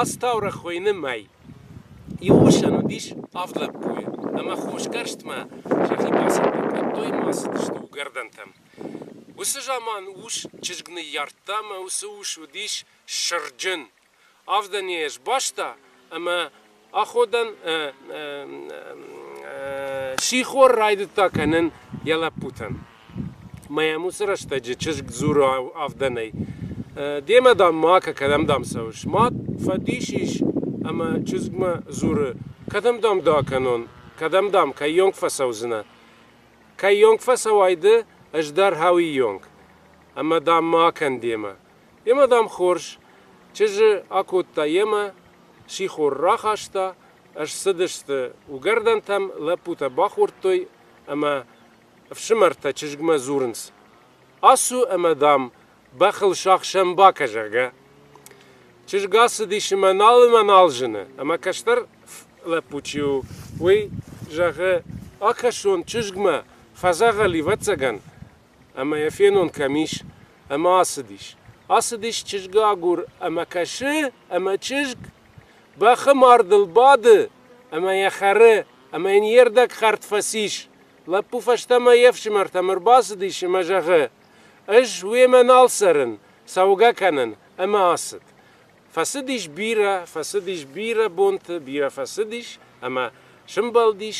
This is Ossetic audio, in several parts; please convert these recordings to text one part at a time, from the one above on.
Ацы таурӕгъ хуыйны Мӕй. Иу усӕн уыдис авд лӕппуйы, ӕмӕ хосгӕрстмӕ сӕхи бацӕттӕ кодтой ӕмӕ ацыдысты уыгӕрдӕнтӕм. Уыцы заман ус чызг ныййардта ӕмӕ уыцы ус уыдис сырджын. Авд ане сбаста ӕмӕ аходӕн сихор райдыдта кӕнын йӕ лӕппутӕн. Мӕм уыцы рӕстӕджы чызг дзуры авдӕнӕй. Демӕ, дам, макӕ кӕдӕм, дам, цӕуыс? Мад фӕдис ис ӕмӕ чызгмӕ дзуры, кӕдӕм, дам, дӕ кӕнон, кӕдӕм, дам, кӕййонг фӕцӕудзынӕ? Кӕййонг фӕцӕуай ды, ӕз дӕр хауиионг ӕмӕ, дам, ма кӕн демӕ. Йемӕ, дам, хорз чызджы акодта йемӕ, сихор рахаста, ссыдысты уыгӕрдӕнтӕм, лӕппутӕ бахордтой ӕмӕ ӕфсымӕртӕ чызгмӕ дзурынц, Ацу ӕмӕ, дам, бӕхыл сӕхсӕн бакӕ, зӕгъгӕ. Чызг ацыдис ӕмӕ налымӕ нал зыны, ӕмӕ кӕстӕр лӕппу чи у, уый зӕгъы, Акӕсон чызгмӕ, фӕдзӕгъӕл ӕвӕццӕгӕн, ӕмӕ йӕ фенон кӕм ис, ӕмӕ ацыдис. Ацыдис чызг агур ӕмӕ кӕсы, ӕмӕ чызг бӕхы мардыл бады ӕмӕ йӕ хӕры, ӕмӕ йын йе рдӕг хӕрд фӕцис. Лӕппу фӕстӕмӕ йе фсымӕртӕм ӕрбацыдис ӕмӕ зӕгъы, Ӕз уемӕ нал цӕрын, цӕугӕ кӕнын. Ӕмӕ ацыд. Фӕцыдис бирӕ, фӕцыдис бирӕ бонты, бирӕ фӕцыдис ӕмӕ сымбӕлдис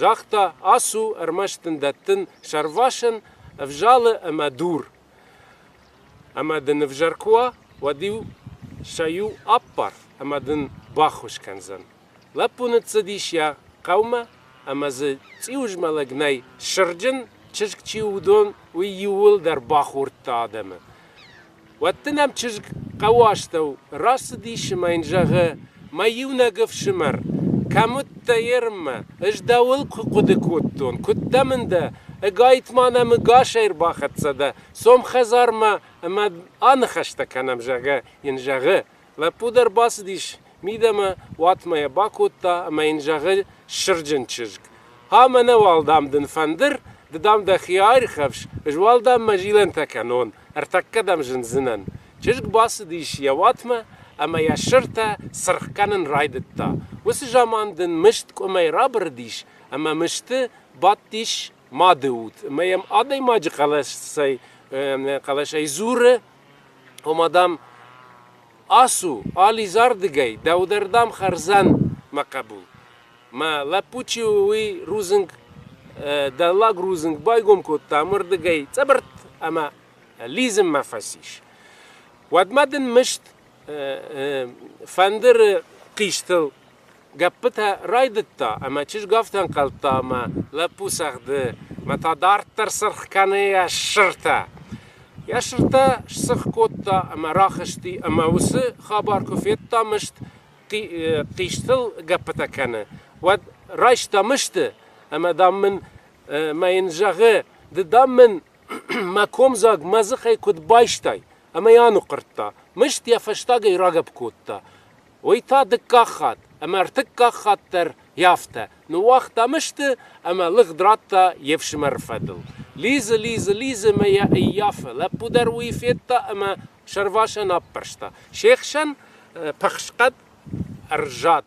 Загъта, Ацу, ӕрмӕст дын дӕттын сӕрвасӕн ӕвзалы ӕмӕ дур. Ӕмӕ дын ӕвзӕр куы уа, уӕд-иу сӕ-иу аппар ӕмӕ дын баххуыс кӕндзӕн. Лӕппу ныццыдис йӕ хъӕумӕ ӕмӕ дзы цъиузмӕлӕг нӕй, сырджын чызг чи у, уыдон, уый иууылдӕр бахордта адӕмы. Уӕд дын ӕм чызг хъӕуы астӕу рацыдис ӕмӕ йын зӕгъы, Мӕ иунӕг ӕфсымӕр, кӕм уыдтӕ Ерынмӕ? Ӕз дӕуыл куы хъуыды кодтон, куыд дӕ мын дӕ? Ӕгайтма нӕм ӕгасӕй ӕрбахӕццӕ дӕ, цом хӕдзармӕ ӕмӕ аныхӕстӕ кӕнӕм, зӕгъгӕ, йын зӕгъы, Лӕппу дӕр бацыдис мидӕмӕ, уатмӕ йӕ бакодта ӕмӕ йын зӕгъы ссырджын чызг, А, мӕнӕ уал, дам, дын фӕндыр, ды, дам, дӕхи аирхӕфс, ӕз уал, дам, мӕ зилӕнтӕ кӕнон, ӕртӕккӕ дӕм зындзынӕн. Чызг бацыдис йӕ уатмӕ ӕмӕ йӕ ссыртӕ цыргъ кӕнын райдыдта. Уыцы заман дын мыст къуымӕй рабырыдис ӕмӕ мысты бадтис мады уд ӕмӕ йӕм адӕймаджы хъӕлӕсӕй хъӕлӕсӕй дзуры, Ома, дам, ацу, ализӕрдыгӕй, дӕуырдӕм хӕрдзӕн мӕ хъӕбул. Мӕ лӕппу чи у, уый рудзынг, дӕллаг рудзынг байгом кодта ӕмырдыгӕй цъыбыртт ӕмӕ лидзынмӕ фӕцис. Уӕдмӕ дын мыст фӕндыры хъистыл Гӕппытӕ райдыдта ӕмӕ чызг афтӕнхъӕлдта ӕмӕ лӕппу цӕгъды, ӕмӕ та дарддӕр сырх кӕны йӕ сыртӕ. Йӕ сыртӕ сцыргъ кодта ӕмӕ рахызти ӕмӕ уыцы хабар куы федта мыст хъистыл гӕппытӕ кӕны, уӕд райста мысты ӕмӕ, дам, мын мӕ йын зӕгъы, ды, дам, мын мӕ комдзаг мӕ дзыхӕй куыд байстай? ӕмӕ йӕ аныхъхъырдта. Мыст йӕ фӕстагӕй рагӕпп кодта Уый та дыккаг хатт ӕмӕ ӕртыккаг хатт дӕр афтӕ ныууагътам сты ӕмӕ лыгъд радта йе фсымӕры фӕдыл. Лидзы, лидзы, лидзы мӕ йӕ ӕййафы. Лӕппу дӕр уый федта ӕмӕ сӕрвасӕн аппӕрста. Се хсӕн пыхсхъӕд ӕрзад.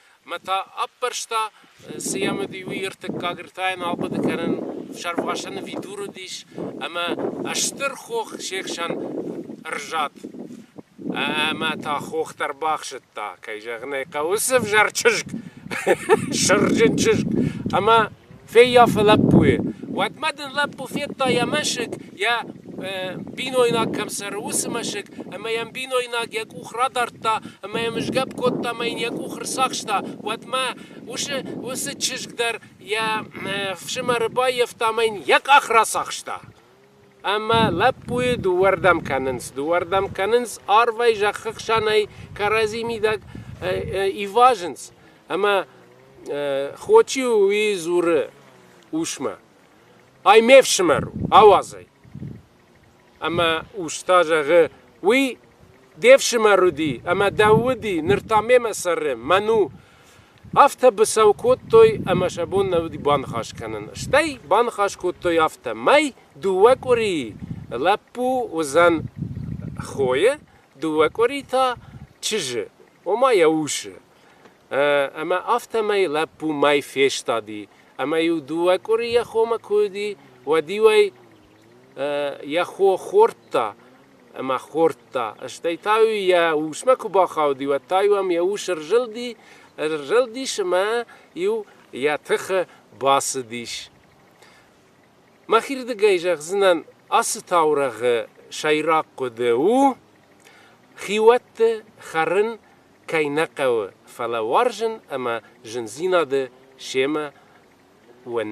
ӕмӕ та аппӕрста, цы йӕ уыди, уый ӕртыккаг ртӕйӕн ахъуыды кӕнын, сӕрвасӕн видур уыдис, ӕмӕ стыр хох се хсӕн ӕрзад. Ӕмӕ та хох дӕр бахсыдта, кӕй зӕгъын ӕй хъӕуы, цы взӕр чызг, сырджын чызг, ӕмӕ Феййафы лӕппуйы. Уӕдмӕ дын лӕппу федта йӕ мӕсыг, йӕ бинойнаг кӕм цӕры, уыцы мӕсыг, ӕмӕ йӕм бинойнаг йӕ къух радардта ӕмӕ йӕм ызгӕпп кодта ӕмӕ йын йӕ къух ӕрцахста. Уӕдмӕ уыцы уыцы чызг дӕр йӕ фсымӕры баййӕфта ӕмӕ йын йӕ къах рацахста. Ӕмӕ лӕппуйы дыууӕрдӕм кӕнынц. Дыууӕрдӕм кӕнынц, арвӕй зӕххы хсӕнӕй кӕрӕдзи мидӕг ивазынц, ӕмӕ хо чи у, уый дзуры усмӕ: Ай ме фсымӕр у, ауадзӕй. Ӕмӕ ус та зӕгъы: Уый де фсымӕр уыди, ӕмӕ дӕу уыди, ныр та мемӕ цӕры, мӕн у. Афтӕ быцӕу кодтой ӕмӕ сӕ бон нӕ уыди баныхас кӕнын. Стӕй баныхас кодтой афтӕ, мӕй дыууӕ къуырийы лӕппу уыдзӕн хойы, дыууӕ къуыри та чызджы, ома йӕ усы. Ӕмӕ афтӕмӕй лӕппу мӕй фестади, ӕмӕ-иу дыууӕ къуырийӕ хомӕ куы уыди, уӕд-иу ӕй йӕ хо хордта ӕмӕ хордта. Стӕй та-иу йӕ усмӕ куы бахауди, уӕд та-иу ӕм йӕ ус ӕрзылди, ӕрзылдис ӕмӕ иу йӕ тыхы бацыдис. Мӕхирдыгӕй зӕгъдзынӕн, ацы таурӕгъы сӕйраг хъуыды у, хиуӕтты хӕрын кӕй нӕ хъӕуы, фӕлӕ уарзын ӕмӕ зындзинады семӕ уын.